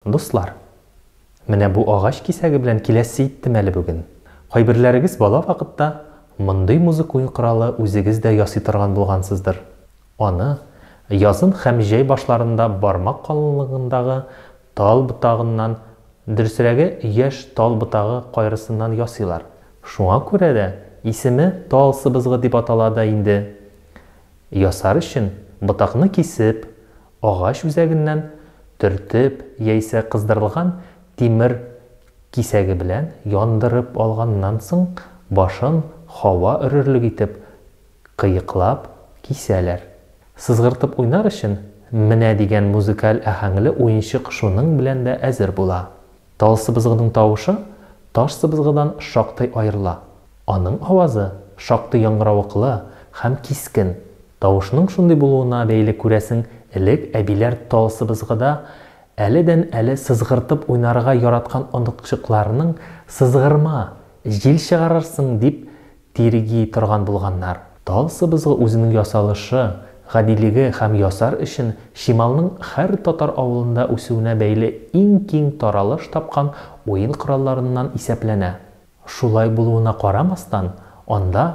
Дуслар! Менә бу агач кисәге белән киләсе иттем әле бүген. Кайберләрегез бала вакытта мондый музыкуй коралы үзегез дә ясый торган булгансыздыр. Аны язын хәм җәй башларында бармак калынлыгындагы тал ботагыннан, дөресрәге, яшь тал ботагы кайрысыннан ясыйлар. Шуңа күрә дә исеме тал сыбызгы дип атала да инде. Ясар өчен ботакны кисеп, Агач үзәгеннән төртеп яисә кыздырылган тимер кисәге белән яндырып алганнан соң, башын һава өрерлек итеп кыеклап кисәләр. Сызгыртып уйнар өчен менә дигән музыкаль аһәңле уенчык шуның белән дә әзер була. Тал сыбызгының тавышы таш сыбызгыдан шактый аерыла. Аның авазы шактый яңгыравыклы һәм кискен. Тавышның шундый булуына бәйле күрәсең, элек әбиләр талсыбызгыда әледән-әле сызгыртып уйнарга яраткан онык-чыкларының Сызгырма, җил чыгарырсың, дип тирги торган булганнар. Талсыбызгы үзенең ясалышы, гадилеге һәм ясар өчен чималның һәр татар авылында үсүенә бәйле иң киң таралыш тапкан уен коралларыннан исәпләнә. Шулай булуына карамастан, анда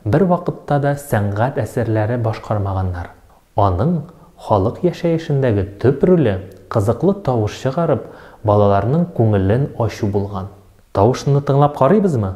бервакытта да сәнгать әсәрләре башкармаганнар. Аның халык яшәешендәге төп роле, кызыклы тавыш чыгарып, балаларның күңелен ачу булган. Тавышны тыңлап карыйбызмы?